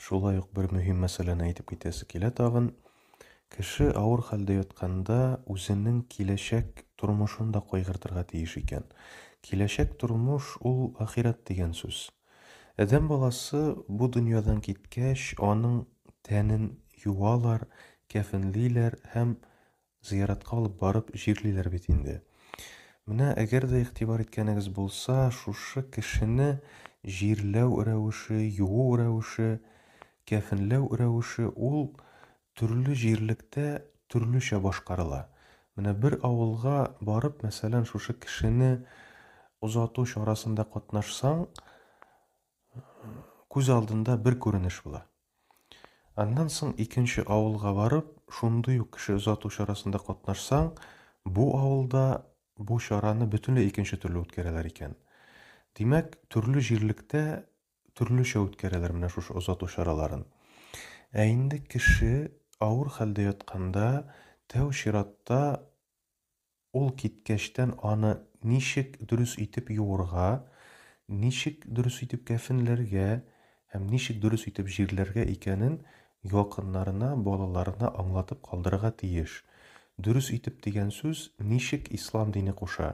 Шулай ук бер мөһим мәсьәләне әйтеп китәсе килә тагын. Кеше авыр хәлдә ятканда үзенең киләчәк тормышын да кайгыртырга тиеш икән. Киләчәк тормыш ул ахирәт дигән сүз. Адәм баласы бу дөньядан киткәч, аның тәнен юалар, кәфенлиләр һәм зыяратка алып барып җирлиләр бит инде. Менә әгәр дә игътибар иткәнегез булса, шушы кешене җирләү рәвеше, юу рәвеше, кәфенләү рәвеше ул төрле җирлектә төрлечә башкарыла. Менә бер авылга барып, мәсәлән, шушы кешене озату чарасында катнашсаң, күз алдында бер күренеш була. Аннан соң икенче авылга барып, шундый ук кеше озату чарасында катнашсаң, бу авылда бу чараны бөтенләй икенче төрле үткәрәләр икән. Димәк, төрле җирлектә төрлечә үткәрәләр менә шушы озату чараларын. Ә инде кеше авыр хәлдә ятканда, тәү чиратта Ул киткәчтән аны ничек дөрес итеп юырга, ничек дөрес итеп кәфенләргә һәм ничек дөрес итеп җирләргә икәнен якыннарына, балаларына аңлатып калдырырга тиеш. Дөрес итеп дигән сүз ничек ислам дине куша,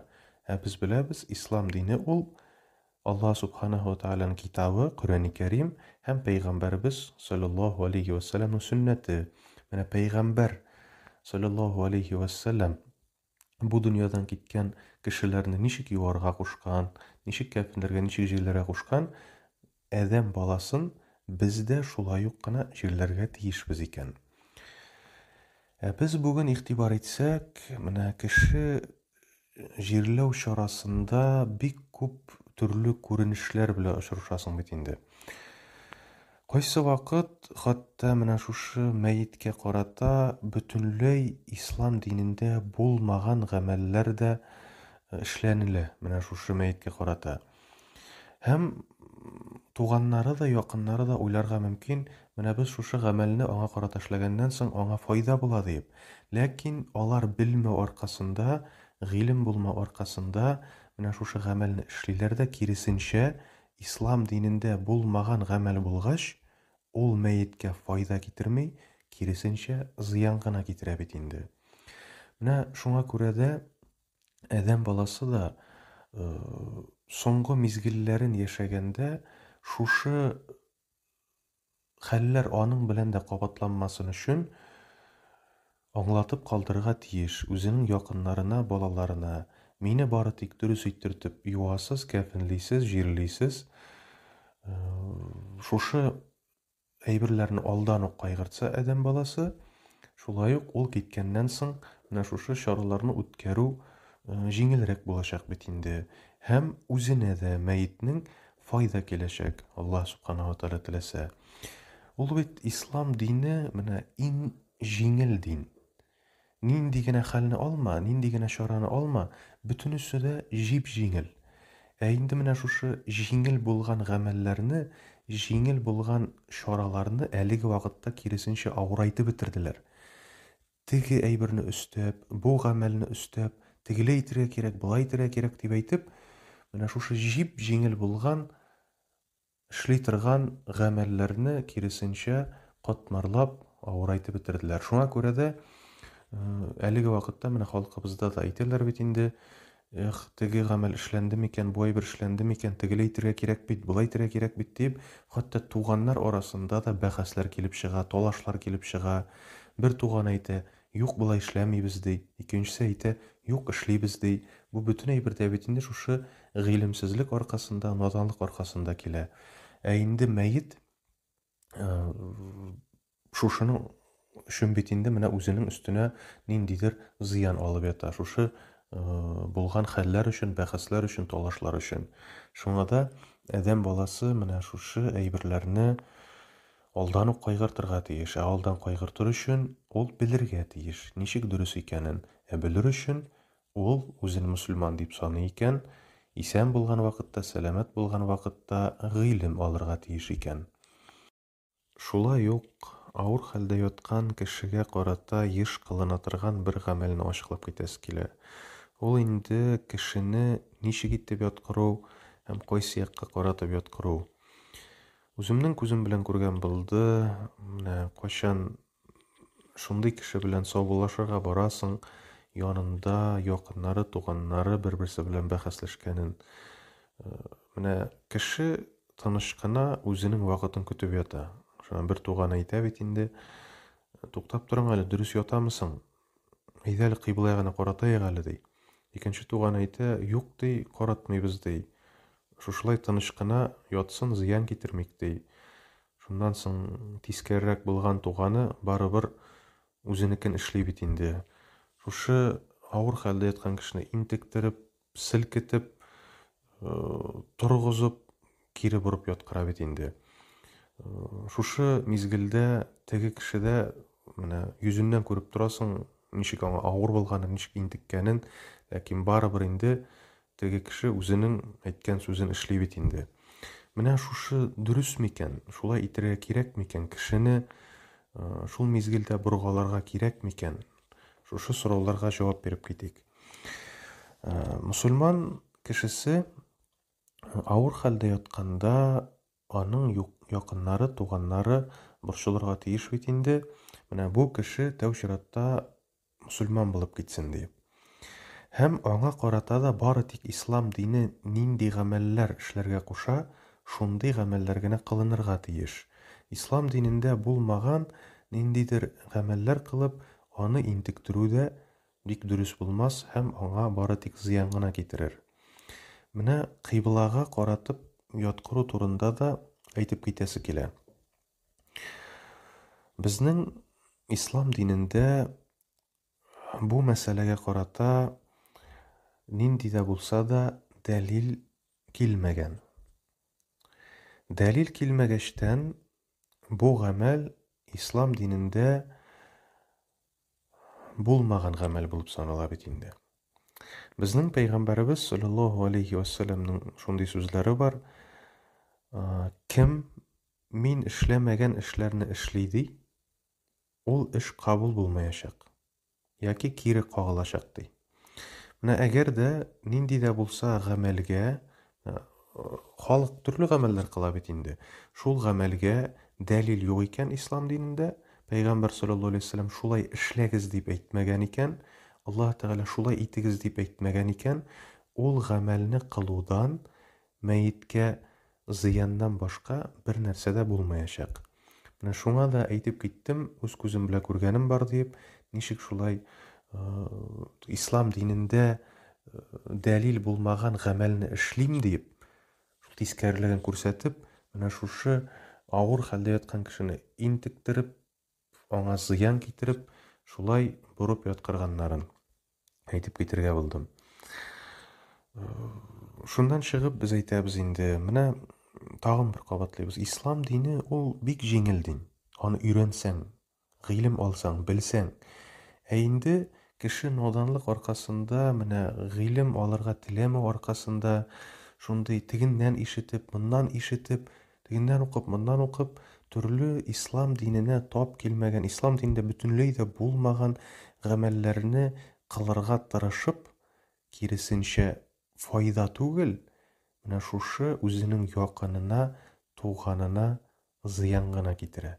ә без беләбез, ислам дине ул Аллаһ Сүбхәнәһү вә Тәгаләнең Китабы, Коръәни Кәрим, һәм Пәйгамбәребез, салләллаһу галәйһи вә сәлләмнең сөннәте. Менә Пәйгамбәр, салләллаһу галәйһи вә сәлләм, бу дөньядан киткән кешеләрне ничек юарга кушкан, ничек кәфенләргә, ничек җирләргә кушкан, адәм баласын без дә шулай ук кына җирләргә тиешбез икән. Ә без бүген игътибар итсәк, менә кеше Җирләү чарасында бик күп төрле күренешләр белән очрашасың бит инде. Кайсы вакыт хәтта менә шушы мәеткә карата бөтенләй ислам динендә булмаган гамәлләр дә э, эшләнелә менә шушы мәеткә карата. Һәм туганнары да, якыннары да уйларга мөмкин, менә без шушы гамәлне аңа карата эшләгәннән соң, аңа файда була диеп. Ләкин алар белмәү аркасында, гыйлем булмау аркасында менә шушы гамәлне эшлиләр дә, киресенчә, ислам динендә булмаган гамәл булгач, ул мәеткә файда китерми, киресенчә, зыян гына китерә бит инде. Менә шуңа күрә дә Адәм баласы да соңгы мизгелләрен яшәгәндә шушы хәлләр аның белән дә кабатланмасын өчен аңлатып калдырырга тиеш үзенең якыннарына, балаларына, Мине бары тик дөрес иттертеп юасыз, кәфенлисез, җирлисез. Шушы әйберләрне алдан ук кайгыртса адәм баласы, шулай ук ул киткәннән соң менә шушы чараларны үткәрү җиңелрәк булачак бит инде. Һәм үзенә дә мәетнең файда киләчәк, Аллаһ Субхана ва Тәгалә теләсә. Ул бит ислам дине менә иң җиңел дин. Нинди генә хәлне алма, нинди генә чараны алма, бөтенесе дә җип-җиңел. Ә инде менә шушы җиңел булган гамәлләрне, җиңел булган чараларны әлеге вакытта киресенчә авырайтып бетерделәр. Теге әйберне өстәп, бу гамәлне өстәп, тегеләй итергә кирәк, болай итергә кирәк дип әйтеп, менә шушы җип-җиңел булган Эшли торган гамәлләрне, киресенчә, катмарлап авырайтып бетерделәр. Шуңа күрә дә әлеге вакытта менә халкыбызда да әйтәләр бит инде, эх, теге гамәл эшләнде микән, бу әйбер эшләнде микән, тегеләй итергә кирәк бит, болай итергә кирәк бит, дип, хәтта туганнар арасында да бәхәсләр килеп чыга, талашлар килеп чыга. Бер туган әйтә, Юк, болай эшләмибез, ди. Икенчесе әйтә, Юк, эшлибез, ди. Бу бөтен әйбер дә бит инде шушы гыйлемсезлек аркасында, наданлык аркасында килә. Ә инде мәет шушының өчен бит инде менә үзенең өстенә ниндидер зыян алып ята. Шушы булган хәлләр өчен, бәхәсләр өчен, талашлар өчен. Шуңа да адәм баласы менә шушы әйберләрне Алдан ук кайгыртырга тиеш, ә алдан кайгыртыр өчен ул белергә тиеш, ничек дөрес икәнен, ә белер өчен ул, үзен мөселман дип саный икән, исән булган вакытта, сәламәт булган вакытта гыйлем алырга тиеш икән. Шулай ук авыр хәлдә яткан кешегә карата еш кылына торган бер гамәлне ачыклап китәсе килә. Ул инде кешене ничек итеп яткыру һәм кайсы якка каратып яткыру. Үземнең күзем белән күргән булды. Менә кайчан шундый кеше белән саубуллашырга барасың, янында якыннары, туганнары бер-берсе белән бәхәсләшкәнен. Э, менә кеше тыныч кына үзенең вакытын көтеп ята. Шуңа бер туган әйтә бит инде, туктап торың әле, дөрес ятамысың? Әйдә әле кыйблага гына каратаек әле, ди. Икенче туганы әйтә, юк, ди, каратмыйбыз, ди. Шушылай тыныч кына ятсын, зыян китермик, ди. Шуннан соң тискәрерәк булган туганы барыбер үзенекен эшли бит инде. Шушы авыр хәлдә яткан кешене интектереп, селкетеп, э, торгызып, кире борып яткыра бит инде. Э, шушы мизгелдә теге кешедә менә йөзеннән күреп торасың, ничек аңа авыр булганын, ничек интеккәнен, ләкин барыбер инде теге кеше үзенең әйткән сүзен эшли бит инде. Менә шушы дөрес микән? Шулай итергә кирәк микән? Кешене э, шул мизгелдә боргаларга кирәк микән? Шушы сорауларга җавап биреп китик. Э, мусульман кешесе авыр хәлдә ятканда аның якыннары, туганнары борчылырга тиеш бит инде. Менә бу кеше тәү чиратта мусульман булып китсен ди. Һәм аңа карата да бары тик ислам дине нинди гамәлләр эшләргә куша, шундый гамәлләр генә кылынырга тиеш. Ислам динендә булмаган ниндидер гамәлләр кылып, аны интектерү дә бик дөрес булмас һәм аңа бары тик зыян гына китерер. Менә кыйблага каратып яткыру турында да әйтеп китәсе килә. Безнең ислам динендә Бу мәсьәләгә карата нинди дә булса да дәлил килмәгән. Дәлил килмәгәчтән, бу гамәл ислам динендә булмаган гамәл булып санала бит инде. Безнең пәйгамбәребез саллаллаһу алейхи ва саллямның шундый сүзләре бар. Кем мин эшләмәгән эшләрне эшли ди, ул эш кабул булмаячак яки кире кагылачак ди. Менә әгәр дә нинди дә булса гамәлгә халык төрле гамәлләр кыла бит инде. Шул гамәлгә дәлил юк икән ислам динендә, Пәйгамбәр саллаллаһу алейһи вәсәлләм шулай эшләгез дип әйтмәгән икән, Аллаһ Тәгалә шулай итегез дип әйтмәгән икән, ул гамәлне кылудан Мәеткә зыяннан башка бер нәрсә дә булмаячак. Менә шуңа да әйтеп киттем, үз күзем белән күргәнем бар диеп, ничек шулай Ислам динендә дәлил булмаган гамәлне эшлим диеп, шул тискәрелеген күрсәтеп, менә шушы авыр хәлдә яткан кешене интектереп, аңа зыян китереп, шулай борып яткырганнарын әйтеп китергә булдым. Шуннан чыгып без әйтәбез инде, менә тагын бер кабатлыйбыз. Ислам дине ул бик җиңел дин. Аны өйрәнсәң, гыйлем алсаң, белсәң. Ә инде кеше наданлык аркасында, менә гыйлем алырга теләмәү аркасында шундый тегеннән ишетеп, моннан ишетеп, Тегеннән укып, моннан укып, төрле ислам диненә тап килмәгән, ислам динендә бөтенләй дә булмаган гамәлләрне кылырга тырышып, киресенчә, файда түгел, менә шушы үзенең якынына, туганына зыян гына китерә.